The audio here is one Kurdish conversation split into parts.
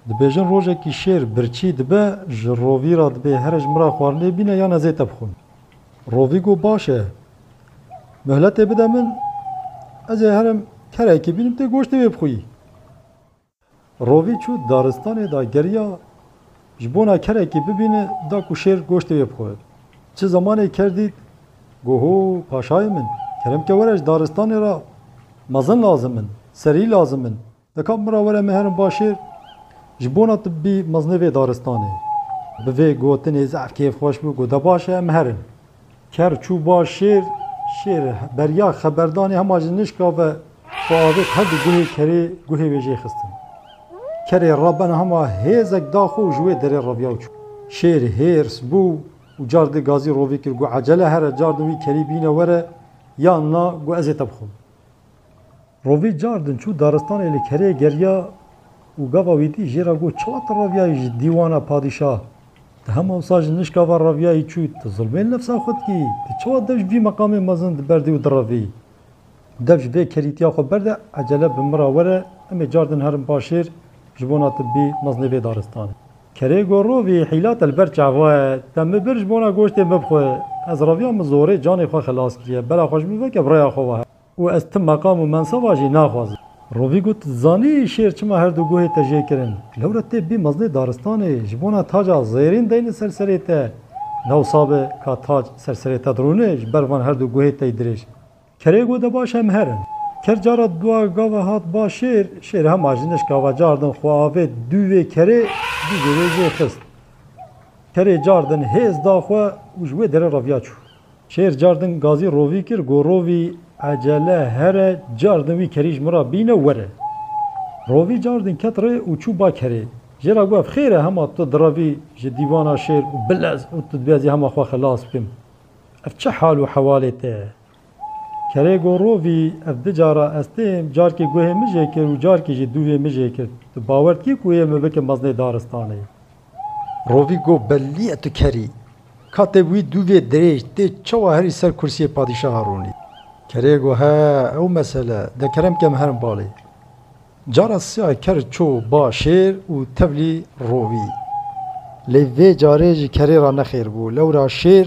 Dibêjin rojekî şêr birçî dibe ji rovî ra dibê here ji min ra xwarinê bîne yan ez ê te bixwim. Rovî got baş e. Muhletê bide min ez ê herim kerekî bînim tu goştê wê bixwî. Rovî çû daristanê da geriya ji bona kerekî bibîne da ku şêr goştê wê bixwe. Çi zemanê ker dît got ho paşayê min kerem ke were ji daristanê ra mezin lazim in, serî lazim in. Deka min re were me herin başêr ji bona tibbî mezine vê daristanê. Bi vê gotinê zaf kêfxweş bû got, De baş e em herin. Ker çû başêr, şêr beriya xeberdanê hema ji nişka ve xwe avêt her du guhê kerê guhê wê jê xistin. Kerê rebena hema hêzek da xwe û ji wê derê reviya û çû. Şêr hêrs bû û car di gazî rovî kir got, Ecele here, car di wî kerî bîne were yan na got, Ez ê te bixwim. Rovî car din çû daristanê li kerê geriya û gava wî dî jê re got çiwa tu reviyayî ji dîwana padîşah? Tu hema wisa ji nişka ve reviyayî çû, tu zilmên nefsa xwe dikî, tu çiwa dev ji vî meqamê mezin diberdî û direvî? Dev ji vê kerîtiya xwe berde ecele bi min re were, em ê car din herin paşêr ji bona tu bî mezinê vê daristanê. Kerê got rovî hîla te li ber çaxwe ye, te min bir ji bona goştê min bixwe, ez reviya min zorê canê xwe xilas kiriye, bela xwe ji min veke bi rêya xwe wehe û ez ti meqam û menseba jî naxwazim. Rovî got, Tu dizanî şêr çima her du guhê te jê kirin, lewre tê bî mezinê daristanê, ji bona taca zêrîn deyne ser serê te, dewsa be ka tac ser serê te dirûne, ji ber van her du guhê te yî dirêj. Kerê got e baş em herin. Ker cara dua gava hat ba şêr, şêr hema ji nişka ve cardin xwe avêt dû vê kerê, dû vê wê jê xist. Kerê cardin hêz da xwe û ji wê derê reviya çû. Şêr cardin gazî rovî kir got rovî ecele here cardin wî kerî ji min re bîne were. Rovî cardin ket rê û çû ba kerê. Jê re got ev xêr e hema tu direvî ji dîvana şêr û bilez û tu dibêjî hema xwe xilas bikim. Ev çi hal û hewalê te ye? Kerê got Rovî, ev di cara ez têm, carkî guhê min jê kir û carkî jî dûvê min jê kir. Tu bawer dikî ku yê min bikim mezinê daristanê? Rovî got Belî ye tu ker î. Katê wî dûvê dirêj tê çawa herî ser kursiyê padîşaha rûnî? Kerê got He, ew mesele, de kerem ke min herin balê. Cara siya ker çû ba şêr û tevlî rovî. Lê vê carê ji kerê ra nexêr bû. Lewra şêr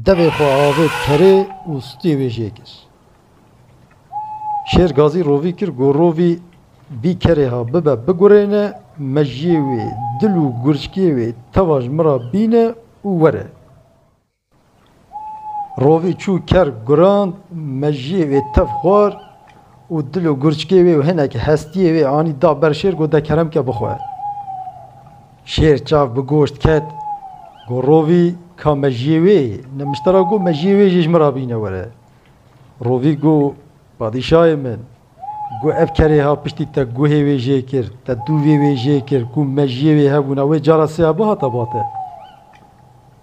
devê xwe avêt kerê û stûyê wê jê kir. Şêr gazî rovî kir ku rovî bî kerê ha bibe bigurêne, mejiyê wê, dil û gurçkiyê wê tewa ji min ra bîne û were. Rovî çû ker guran, mejiyê wê tev xwar û dil û gurçikê wê û hinekî hestiyê wê anî da ber şêr got de kerem ke bixwe. Şêr çav bi goşt ket got rovî ka mejiyê wê yê. Nimişte ra got mejiyê wê jî ji min ra bîne were. Rovî got padîşayê min got ev kerê ha piştî te guhê wê jê kir, te dûvê wê jê kir ku mejiyê wê hebûna wê cara sêya bihata bate.